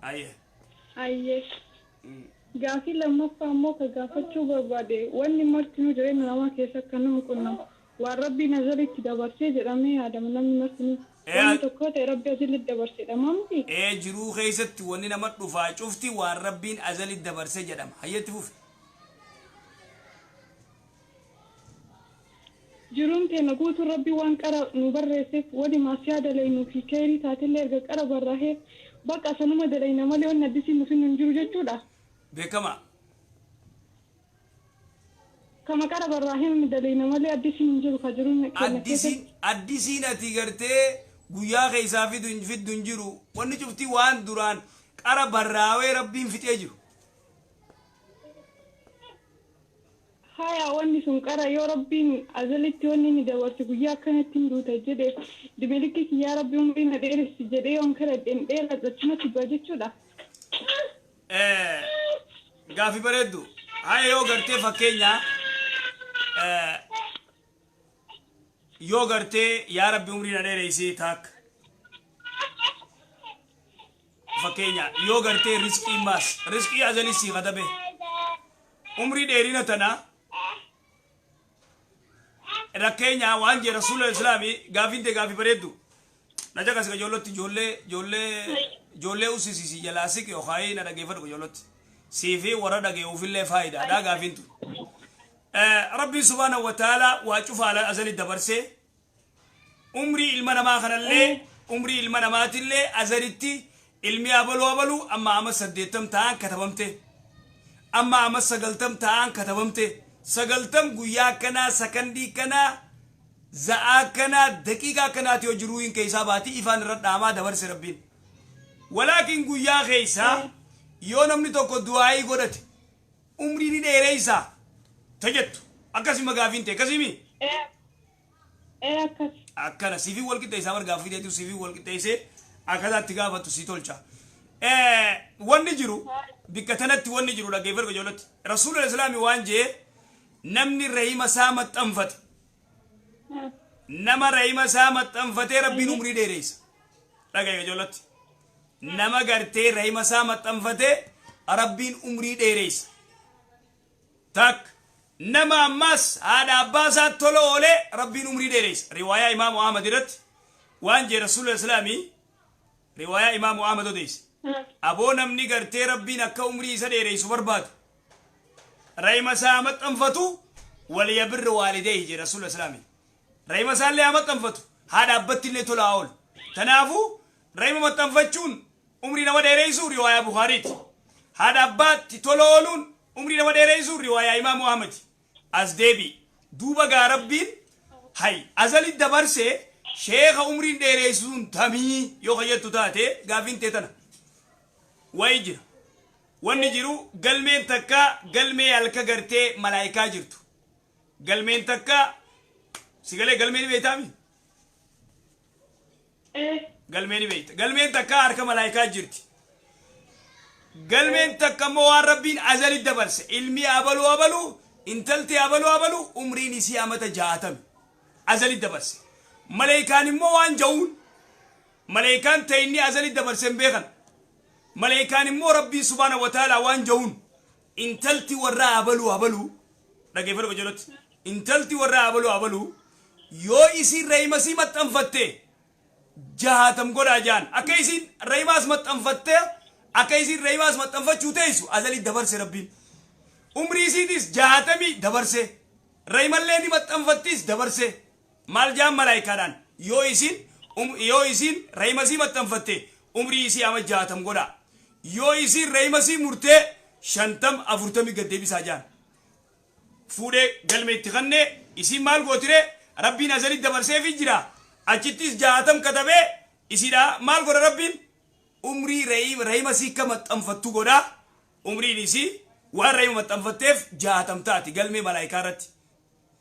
Aye. Aye. Mm. Gaafii lammaffaa immoo ka gaafachuu barbaade wanni martinuu jireenya namaa keessa akka nama qunnamu waan Rabbii nazaritti dabarsee jedhamee yaadama namni martinuu Ee, wanni a- tokko yoo ta'e Rabbi azillitti dabarse jedhamaa miti? Ee jiruu keessatti wanni nama dhufaa cufti waan Rabbiin azalitti dabarse jedhama. Hayyetti fufi. Jiruun teenna guutuun Rabbiin waan qara nuu barreesseef, wani ma'asiyaa dalaynuu fi kheeyrii taatillee erga qara barraahee, baqa sanuma dalayna malee wanni addisiin nu finnu hin jiru jechuudhaa? Beekkamaa. Kama qara barraahee nuti dalayna malee addisiin hin jiru kha jiruun teenna Addisiin, keessatti. addisiin ati gartee guyyaa kheeysaa fidu hin fiddu hin jiru. Wanni cufti waan duraan qara barraawee Rabbiin fixee jiru. Haya wanni sun qara yoo Rabbiin azalitti wanni inni dabarse guyyaa akkanatti hin duuta jedhe dimilikki kiyyaa Rabbi umrii na dheeressi jedhee yoon kadhadhe hin dheeradhu achumatti du'a jechuudha? Gaaffii bareeddu. Haya yoo gartee fakkeenya yoo gartee yaa Rabbi umrii na dheeressi taak fakkeenya yoo gartee risqiin maas risqii azalii sii katabe. umrii dheerina tana rakkeenya waan jee rasuula islaami gaafiin tee gaafii bareeddu na caqasi ka joollootti joollee joollee joollee ussisi si jalaa siqi yookaayii na dhageeffadhu ka joollootti sii fi warra dhageewufillee faayidaadha gaafiin tun Eh, rabbiin subhaanahu wa ta'aalaa waa cufa ala azali dabarsee umrii ilma namaa kanallee umrii ilma namaatillee azaritti ilmi abaluu abaluu amma ama saddeettam ta'an katabamte amma ama sagaltam ta'an katabamte sagaltam guyyaa akkanaa sakandii kanaa za'aa akkanaa daqiiqaa akkanaati yoo jiruu hin keessaa baatii ifaan irra dhaamaa dabarse rabbiin walaakin guyyaa keessaa yoo namni tokko du'aayii godhate umrii ni dheereysa ta jettu akkasi ma gaafiin tee akkasi mi Ee ee akkas. akkana sifi wal qixxeessaa bar gaaffii teetu sifi wal qixxeessee akkaataa itti gaafattu si tolcha Eh, wanni jiru bikka tanatti wanni jiru dhaggeeffadhu ijoolletti rasuula islaami waan jee namni rahima isaa maxxanfate nama rahima isaa maxxanfatee rabbiin umrii dheereysa dhaga'e ijoolletti nama gartee rahima isaa maxxanfate rabbiin umrii dheereysa takka nama ammaas haadha abbaa isaa tola oolee rabbiin umrii dheereysa riwaayaa imaamu ahmad irratti waan jee rasuula islaamii riwaayaa imaamu ahmad odeyse aboo namni gartee rabbiin akka umrii isa dheereysu barbaadu rahima isaa haa maxxanfatu waliyabirri waalideehi jee rasuula islaamii rahima isaa illee haa maxxanfatu haadha abbatti illee tola haa oolu tanaafuu Rahima maxxanfachuun umrii nama dheereysu riwaayaa Bukhaariiti. Haadha abbaatti tola ooluun umrii nama dheereysu riwaayaa Imaamu Ahmadi. As deebi'i. Duuba gaa Rabbiin hay azali dabarse sheekha umriin dheereysu sun tamii yoo ka jettu taate gaafiin tee tana. Wayi jira. Wanni jiru galmeen takka galmee halka gartee malaayikaa jirtu. Galmeen takka si galee galmee ni beeytaami? Ee, galmee ni beekta. Galmeen takka harka malaayikaa jirti. Galmeen takka immoo waan rabbiin azali dabarse. Ilmi abaluu abaluu, intalti abaluu abaluu, umriin isii amata jaatami. Azali dabarse. Malaayikaan immoo waan ja'uun. Malaayikaan ta'e inni azali dabarse hin beekan. Malaayikaan immoo rabbiin subhaana wa ta'ala waan ja'uun. Intalti warraa abaluu abaluu dhaggeeffadhu qajeelootti intalti warraa abaluu abaluu yoo isiin rahimasii maxxanfatte jahaatam godhaa jaan akka isiin rahimaas maxxanfatte akka isiin rahimaas maxxanfachuu teessu azalii dabarse rabbiin umrii isiitis jahaatamii dabarse rahimallee ni maxxanfattiis dabarse Maal ja'an malaaykaadhaan, Yoo isiin, um, yoo isiin rahima isii maxxanfatte, umrii isii ama jaatam godhaa. Yoo isiin rahima isii murtee, shantam, afurtami gad deebisaa ja'an. Fuudhee galme itti kanne, isiin maal gootiree? Rabbiin azalitti dabarseefii jira. Achittis jaatam katabee, isiidhaa maal godha Rabbiin? Umrii rahima, rahima isii akka maxxanfattu godhaa. Umriin isii waan rahima maxxanfatteef jaatam taati galmee malaaykaa irratti.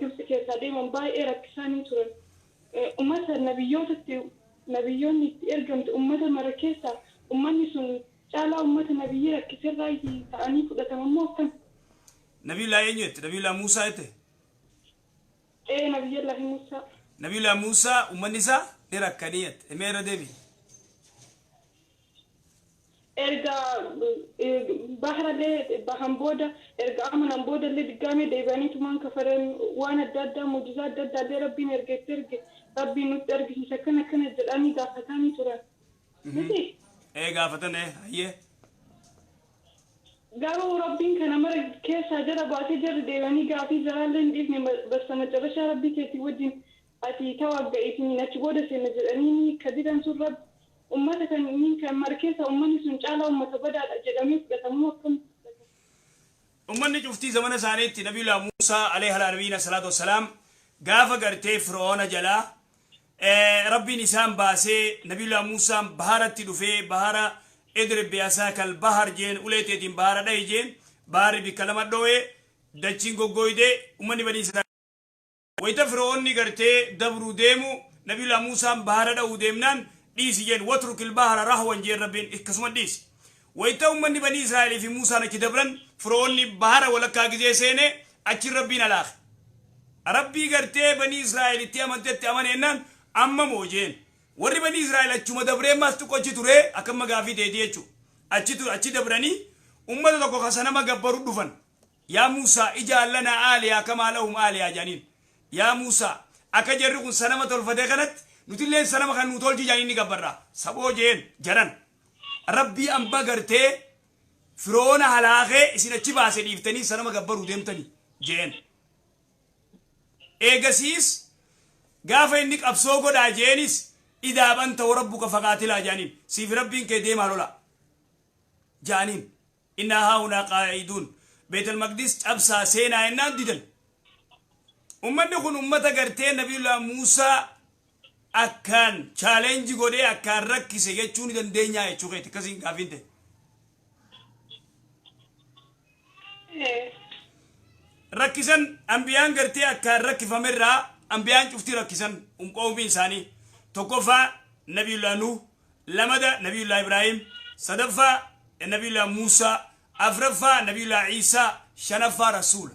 Gibtsi keessaa deeman baay'ee rakkisaa ni turan. Ummata nabiyyoota itti nabiyyoonni itti ergamte ummata mara keessaa ummanni sun caalaa ummata nabiyyii rakkise irraayi ta'anii fudhataman moo akkami? Nabiyullaahi eenyu jette? Nabiyullaahi Muusaa jette? Ee Nabiyyallaahi Muusaa. Nabiyullaahi Muusaa ummanni isaa ni rakkanii jette. Mee irra deebi'i. Erga bahrallee bahan booda, erga amanan boodallee diggaamee deebi'aniitumaan kafaran. Waan adda addaa, mu'jizaa adda addaallee Rabbiin erga itti erge, Rabbiin nutti argisiise akkana akkana jedhaanii gaafataanii turan. Mitii? Ee gaafatan ee, hayyee. Garuu Rabbiin kana mara keessaa jara baasee jarri deebi'anii gaafii jaraallee hin dhiifne, bastamacarashaa Rabbii keetii wajjiin ati tawagga'iitiin achi booda seenna jedhaniini ka didan sun Rabbi Ummata kan Myanmar keessa ummanni sun caalaa ummata badaadha jedhamee fudhatamuu akkamitti fudhatama? Ummanni cuftii zamana isaaniitti Nabiyullah Muusaa aleyh alaa nabiyyina assalaatu wassalaam gaafa gartee Fir'oona jalaa Rabbiin isaan baasee Nabiyullah Muusaan baharatti dhufee bahara idrib bi'asaakal bahar jeen ulee teetiin bahara dhahi jeen baharri bikka lama dhooye dachiin goggooyde ummanni banii Wayita Fir'oonni gartee dabru deemu Nabiyullah Muusaan bahara dha'uu deemnaan dhiisi jeen watrukil bahara rahwan jeen Rabbiin ikkasuma dhiisi. Wayita ummanni banii Israa'el fi Muusaan achi dabran Fir'oonni bahara walakkaa gizee seene achiin Rabbiin halaake. Rabbii gartee banii Israa'el itti amantetti amane ennaan amma moo jeen. Warri banii Israa'el achuma dabree ammaas xiqqo achi ture akka amma gaafii teeti jechu. Achi ture achi dabranii ummata tokko ka sanama gabbaru dhufan. Yaa Muusaa, ij'al lanaa aaliha kamaa lahum aaliha jedhaniin. Yaa Muusaa, akka jarri kun sanama tolfate kanatti nutilleen sanama kana nuu tolchi jedhaniin ni gabbarra. Saboo je'een, jaran. Rabbii amba gartee Fir'oona halaakee isin achi baase dhiiftanii sanama gabbaruu deemtanii? je'een. Eegasiis gaafa inni qabsoo godhaa je'eenis idhaab anta warabbuka faqaatilaa jedhaniin. Siifi Rabbiin kee deemaa lolaa. Jedhaniin. Innaa haahunaa qaa'iduun. Beetal Maqdis cabsaa seenaa jennaan didan. Ummanni kun ummata gartee Nabiyullaa Muusaa akkaan challenge godhee akkaan rakkise jechuu ni dandeenyaa jechuu keeti akkasiin gaafiin ta'e. Rakkisan anbiyaan gartee akkaan rakkifame irraa anbiyaan cufti rakkisan qoomiin isaanii. Tokkoffaa Nabiyullaa Nuuh, lamada nabiyullaa ibraahim sadaffaa nabiyullaa muusaa afraffaa nabiyullaa iisaa shanaffaa rasuula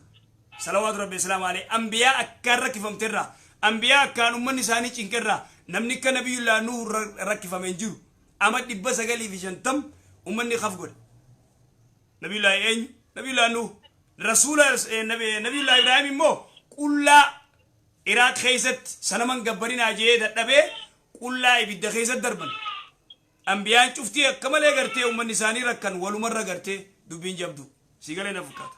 salawaatu rabbi islaama alee anbiyaa akkaan rakkifamte irraa anbiyaa akkaan ummanni isaanii cinqe irraa namni akka nabiyullaa nuhu rakkifame hin jiru ama dhibba sagalii fi shantam ummanni kaf godhe nabiyullaa eenyu nabiyullaa nuhu rasuula nabiyullaa ibraahim immoo qullaa iraaq keessatti sanaman gabbarinaa jee dadhabee qullaa ibidda keessa darban. Anbiyaan cuftii akka malee gartee ummanni isaanii rakkan walumarra gartee dubbiin jabduu. Sii galee na fakkaata.